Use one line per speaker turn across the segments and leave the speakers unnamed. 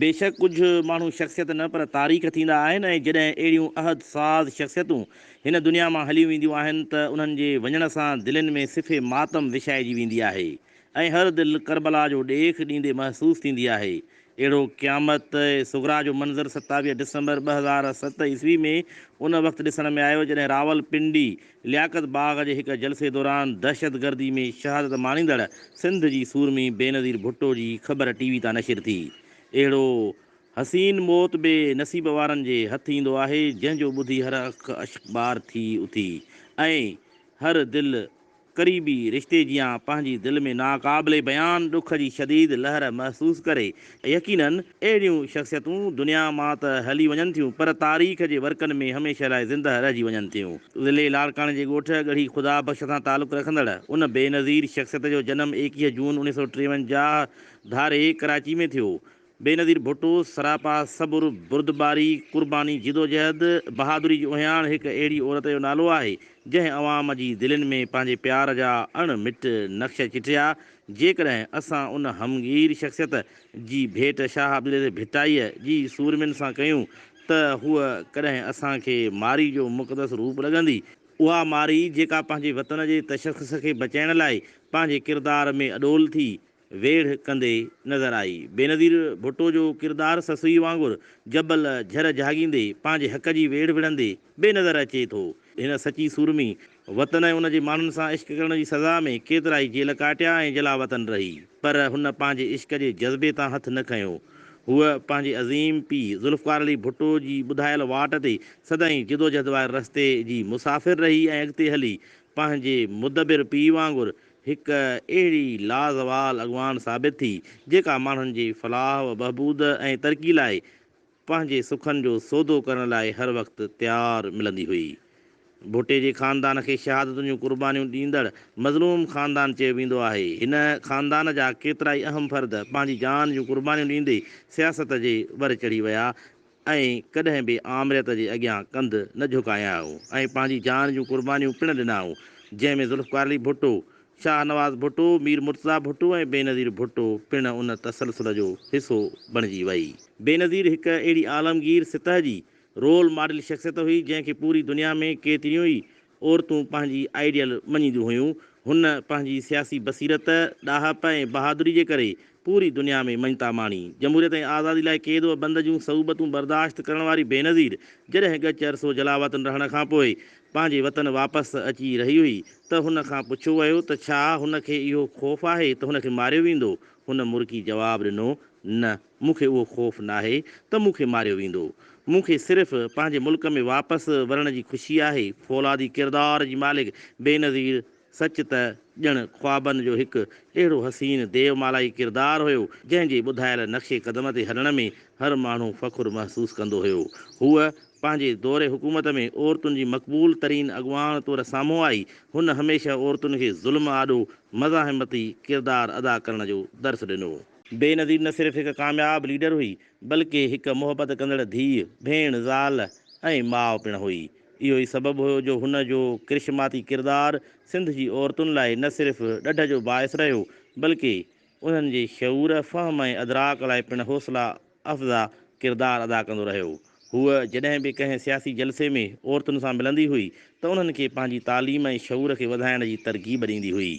بيشڪ ڪجهه ماڻهو شخصيت نه پر تاريخ ٿيندا آهن ۽ جڏهن اهڙيون عهد ساز شخصيتون هن دنيا مان هليون وينديون آهن ته انهن جي وڃڻ سان دلين ۾ صف ماتم وڇائجي ويندي آهي ۽ هر دل ڪربلا جو ڏيک ڏيندي محسوس ٿيندي آهي اهڙو قيامت صغريٰ جو منظر ستاويهه ڊسمبر ٻه هزار ست عيسوي ۾ ان وقت ڏسڻ ۾ آيو جڏهن راولپنڊي لياقت باغ جي هڪ جلسي دوران دهشتگردي ۾ شهادت ماڻيندڙ سنڌ جي سورمي بينظير ڀٽو جي خبر ٽي وي تان نشر ٿي. اهڙو حسين موت بي نصيب وارن جي هٿ ايندو آهي جنهن جو ٻڌي هر اک اشڪبار ٿي اٿي ۽ هر دل قريبي رشتي جيان پنهنجي دل ۾ ناقابل بيان ڏک جي شديد لهر محسوس ڪري. يقينن اهڙيون شخصيتون دنيا مان ته هلي وڃن ٿيون پر تاريخ جي ورقن ۾ هميشه لاء زنده رهجي وڃن ٿيون. ضلعي لاڙڪاڻي جي ڳوٺ ڳڙهي خدا بخش سان تعلق رکندڙ ان بينظير شخصيت جو جنم ايڪيهه جون اڻيهه سؤ ٽيونجاهه ڌاري ڪراچي ۾ ٿيو بينظير ڀٽو سراپا صبر، بردباري، قرباني، جدوجهد، بهادري جي اهڃاڻ هڪ اهڙي عورت جو نالو آهي، جنهن عوام جي دلين ۾ پنهنجي پيار جا اڻ مٽ نقش چٽيا، جيڪڏهن اسان ان همگير شخصيت جي ڀيٽ شاهه عبدالعزيز ڀٽائيء جي سورمين سان ڪيون ته هوء ڪڏهن اسان کي مارئي جو مقدس روپ لڳندي، اها مارئي جيڪا پنهنجي وطن جي تشخص کي بچائڻ لاء پنهنجي ڪردار ۾ اڏول ٿي، ويڙهه ڪندي نظر آئي. بينظير ڀٽو جو ڪردار سسئي وانگر جبل جھر جھاڳيندي پنهنجي حق جي ويڙهه وڙهندي بي نظر اچي ٿو. هن سچي سورمي وطن ۽ ان جي ماڻهن سان عشق ڪرڻ جي سزا ۾ ڪيترائي جيل ڪاٽيا ۽ جلاوطن رهي پر هن پنهنجي عشق جي جذبي تان هٿ نه کنيو. هوء پنهنجي عظيم پيء ذوالفقار علي ڀٽو جي ٻڌايل واٽ تي سدائين جدوجھد واري رستي جي مسافر رهي ۽ اڳتي هلي پنهنجي مدبر پيء وانگر هڪ اهڙي لازوال اڳواڻ ثابت ٿي، جيڪا ماڻهن جي فلاح و بهبود ۽ ترقي لاء پنهنجي سکن جو سودو ڪرڻ لاء هر وقت تيار ملندي هئي. ڀٽي جي خاندان کي شهادتن جون قربانيون ڏيندڙ مظلوم خاندان چيو ويندو آهي. هن خاندان جا ڪيترائي اهم فرد پنهنجي جان جون قربانيون ڏيندي سياست جي ور چڙهي ويا ۽ ۽ ڪڏهن به آمريت جي اڳيان ڪنڌ نه جهڪايائون ۽ پنهنجي جان جون قربانيون پڻ ڏنائون، جنهن ۾ ذوالفقار علي ڀٽو، شاهه نواز ڀٽو، مير مرتضيٰ ڀٽو ۽ بينظير ڀٽو پڻ ان تسلسل جو حصو بڻجي وئي. بينظير هڪ اهڙي عالمگير سطح جي رول ماڊل شخصيت هئي، جنهن کي پوري دنيا ۾ ڪيتريون ئي عورتون پنهنجي آئيڊيل مڃينديون هيون. هن پنهنجي سياسي بصيرت، ڏاهپ ۽ بهادري جي ڪري پوري دنيا ۾ مڃتا ماڻي. جمهوريت ۽ آزادي لاء قيد و بند جون صعوبتون برداشت ڪرڻ واري بينظير جڏهن ڳچ عرصو جلاوطن رهڻ کان پوء پنهنجي وطن واپس اچي رهي هئي ته هن کان پڇيو ويو ته ڇا هن کي اهو خوف آهي ته هن کي ماريو ويندو؟ هن مرڪي جواب ڏنو نه! مون کي اهو خوف ناهي ته مون کي ماريو ويندو. مون کي صرف پنهنجي ملڪ ۾ واپس ورڻ جي خوشي آهي. فولادي ڪردار جي مالڪ بينظير سچ ته ڄڻ خوابن جو هڪ اهڙو حسين ديومالائي ڪردار هيو، جنهن جي ٻڌايل نقشي قدم تي هلڻ ۾ هر ماڻهو فخر محسوس ڪندو هيو. هوء پنهنجي دور حڪومت ۾ عورتن جي مقبول ترين اڳواڻ طور سامهون آئي. هن هميشه عورتن کي ظلم آڏو مزاحمتي ڪردار ادا ڪرڻ جو درس ڏنو. بينظير نه صرف هڪ ڪامياب ليڊر هئي، بلڪه هڪ محبت ڪندڙ ڌيء، ڀيڻ، زال ۽ ماء پڻ هئي. اهو ئي سبب هيو جو هن جو ڪرشماتي ڪردار سنڌ جي عورتن لاء نه صرف ڏڍ جو باعث رهيو، بلڪه انهن جي شعور، فهم ۽ ادراڪ لاء پڻ حوصلا افزا ڪردار ادا ڪندو رهيو. هوء جڏهن به ڪنهن سياسي جلسي ۾ عورتن سان ملندي هئي ته انهن کي پنهنجي تعليم ۽ شعور کي وڌائڻ جي ترغيب ڏيندي هئي.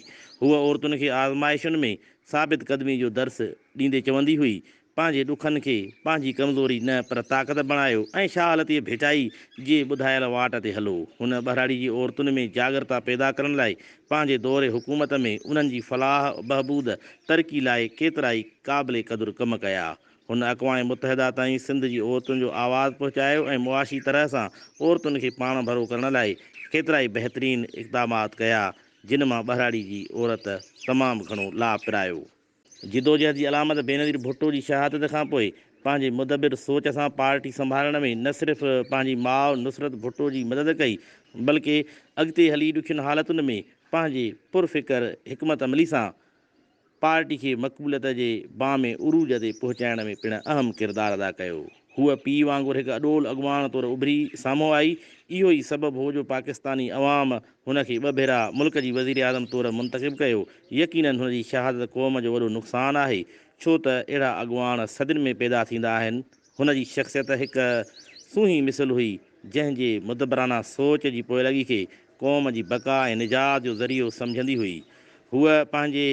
هوء عورتن کي آزمائشن ۾ ثابت قدمي جو درس ڏيندي چوندي هئي، پنهنجي ڏکن کي پنهنجي ڪمزوري نه پر طاقت بڻايو ۽ شاهلتيء ڀيٽائي جي ٻڌايل واٽ تي هلو. هن ٻهراڙي جي عورتن ۾ جاڳرتا پيدا ڪرڻ لاء پنهنجي دور حڪومت ۾ انهن جي فلاح بهبود ترقي لاء ڪيترائي قابل قدر ڪم ڪيا. هن اقوام متحده تائين سنڌ جي عورتن جو آواز پهچايو ۽ معاشي طرح سان عورتن کي پاڻ ڀرو ڪرڻ لاء ڪيترائي بهترين اقدامات ڪيا جن مان ٻهراڙي جي عورت تمام گهڻو لاڀ پرايو. جدوجهد جي علامت بينظير ڀٽو جي شهادت کان پوء پنهنجي مدبر سوچ سان پارٽي سنڀالڻ ۾ نه صرف پنهنجي ماء نصرت ڀٽو جي مدد ڪئي بلڪه اڳتي هلي ڏکين حالتن ۾ پنهنجي پرفڪر حڪمت عملي سان پارٽي کي مقبوليت جي بام عروج تي پهچائڻ ۾ پڻ اهم ڪردار ادا ڪيو. هوء پيء وانگر هڪ اڏول اڳواڻ طور اڀري سامهون آئي، اهو ئي سبب هو جو پاڪستاني عوام هن کي ٻه ڀيرا ملڪ جي وزيراعظم طور منتخب ڪيو، يقينن هن جي شهادت قوم جو وڏو نقصان آهي، ڇو ته اهڙا اڳواڻ صدين ۾ پيدا ٿيندا آهن، هن جي شخصيت هڪ سونهين مثل هئي، جنهن جي مدبرانه سوچ جي پوئلڳي کي قوم جي بقا ۽ نجات جو ذريعو سمجهندي هئي، هوء پنهنجي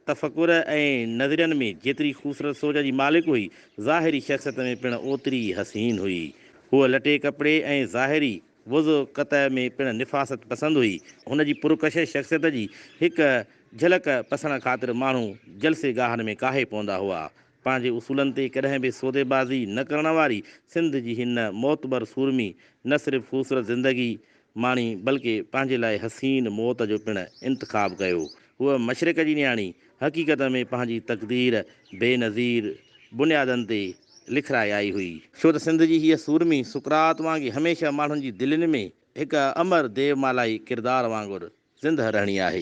تفڪر ۽ نظرين ۾ جيتري خوبصورت سوچ جي مالڪ هئي، ظاهري شخصيت ۾ پڻ اوتري ئي حسين هئي، هوء لٽي ڪپڙي ۽ ظاهري وضو قطع ۾ پڻ نفاست پسند هئي. هن جي پرڪشش شخصيت جي هڪ جهلڪ پسڻ خاطر ماڻهو جلسي گاهن ۾ ڪاهي پوندا هئا. پنهنجي اصولن تي ڪڏهن به سودي بازي نه ڪرڻ واري سنڌ جي هن معتبر سورمي نه صرف خوبصورت زندگي ماڻي بلڪه پنهنجي لاء حسين موت جو پڻ انتخاب ڪيو. هوء مشرق جي نياڻي حقيقت ۾ پنهنجي تقدير بي نظير بنيادن تي لکرائي آئي هئي. ڇو ته سنڌ جي هيء سورمي سقراط وانگي هميشه ماڻهن جي دلين ۾ هڪ امر ديومالائي ڪردار وانگر زندهه رهڻي آهي.